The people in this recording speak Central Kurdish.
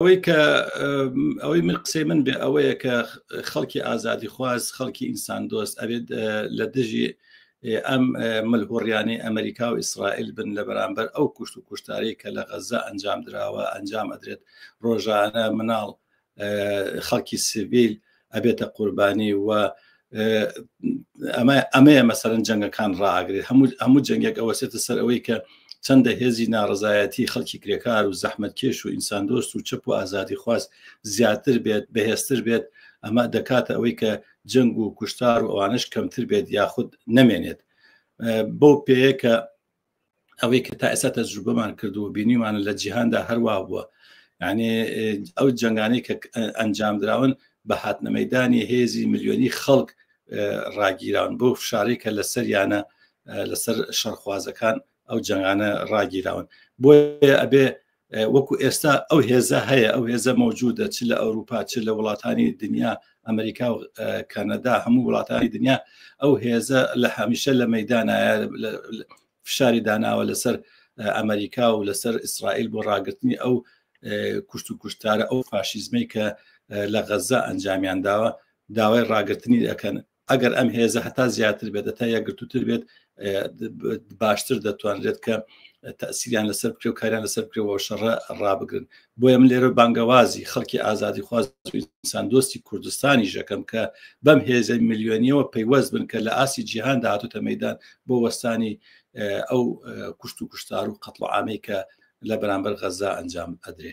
ئەوەی کە ئەوەی من قسەی من بێ ئەوەیە کە خەڵکی ئازادی خواز خەڵکی ئینسان دۆست ئەبێت لە دژی ئەم ملهوڕیانی ئەمریکا و ئیسرائیل بن لە بەرامبەر ئەو کوشت و کوشتاری کە لە غەزە ئەنجام درراوە ئەنجام ئەدرێت ڕۆژانە مناڵ خەڵکی سڤیل ئەبێتە قوربانی و ئەمە ئەمەیە مەسەرەن جەنگەکان ڕاگرێت هەموو هەموو جەنگێک ئەوەسێتە سەر ئەوەی کە چەندە هێزی ناڕزایەتی خەڵکی کرێکار و زەحمت کێش و ئینسان دۆست و چپ و ئازادی خواست زیاتر بێت بەهێزتر بێت ئەمە دەکاتە ئەوەی کە جەنگ و کوشتار و ئەوانش کەمتر بێت یاخود نەمێنێت بەو پێەکە ئەوەی کە تا ئێستا تەجروبەمان کردو بینیمانە لە جیهاندا هەروە بووە یعنی ئەو جنگانی کە ئەنجام دراون بە هاتنەمەدانی هێزی ملیۆنی خەڵک ڕاگیراون بۆ فشاری کە لە سەریانە لەسەر شەرخوازەکان ئەو جنگانە ڕاگیراون بۆ ئەبێ وەکو ئێستا ئەو هێزە هەیە ئەو هێزە مەوجودە چ لە ئەوروپا چ لە وڵاتانی دنیا ئەمریکا و کەنەدا هەموو وڵاتانی دنیا ئەو هێزە لە هەمیشە لە مەدانە فشاری داناوە لەسەر ئەمریکا و لەسەر ئیسرائیل بۆ ڕاگرتنی ئەو کوشت و کوشتارە ئەو فاشیزمەی کە لە غەزە ئەنجامیان داوە داوای ڕاگرتنی دەکەن ئەگەر ئەم هێزە هەتا زیاتر بێت تا یەکگرتووتر بێت باشتر دەتوانرێت کە تاسییان لەسەر بکرێ و کاریان لەسەر بکرێەوە شەڕە ڕابگرن بۆیە من لێرە بانگەوازی خەڵکی ئازادی خواز ئینسان دۆستی کوردستانی ژەکەم کە بەم هێزە میلیۆنیەوە پەیوەست بن کە لە ئاسی جیهان داهاتوتە مەدان بۆ وەستانی ئەو کوشت و کوشتار و قەتڵ ئامەی کە لە بەرامبەر غەزا ئەنجام ئەدرێ